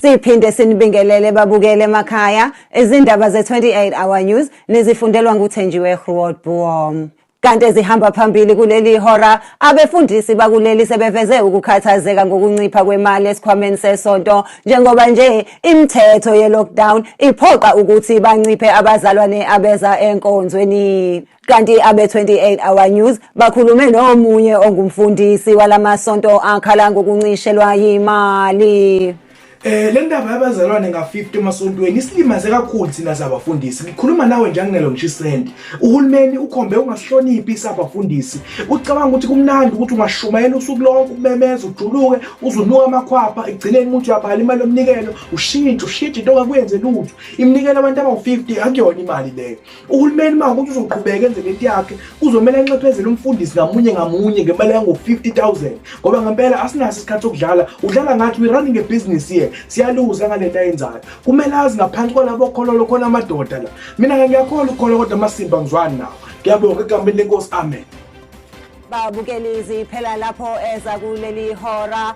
Siphinde sinibingelele babukele emakhaya izindaba ze-28 Hour News nizifundelwa nguthenjiwe Groot Boom. Kanti ezihamba phambili kuleli hora abefundisi bakuleli sebeveze ukukhathazeka ngokuncipha kwemali esikhwameni sesonto njengoba nje imithetho ye-lockdown iphoqa ukuthi banciphe abazalwane abeza enkonzweni. Kanti abe-28 Hour News bakhulume nomunye ongumfundisi walamasonto akhala ngokuncishelwa yimali. Eh le ndaba yabazalwane nga50 emasontweni isilimaze kakhulu thina sabafundisi. Ngikhuluma nawe nje anginelo ngishisende. Uhulumeni ukhombe ungasihloniphi isabafundisi. Ucabanga ukuthi kumnandi ukuthi ungashumayela usuku lonke ubemeza ujuluke uzunuka amakhwapha egcineni umuntu uyabhala imali yomnikelo ushintshe ushintshe into ongakwenze lutho. Iminikelo abantu abawu50 akuyona imali leyo. uhulumeni uma ukuthi uzoqhubeka enze lento yakhe kuzomele anxephezele umfundisi ngamunye ngamunye ngemali yango-50000 ngoba ngempela asinaso isikhathi sokudlala udlala ngathi we-running a business here siyaluza ngale nto ayenzayo kumele azi ngaphansi kwalabo khololo khona amadoda la mina-ke ngiyakhola ukukhola kodwa amasimba ngizwani nawo ngiyabonga egameni lenkosi amen babukeli ziphela lapho eza kuleli hora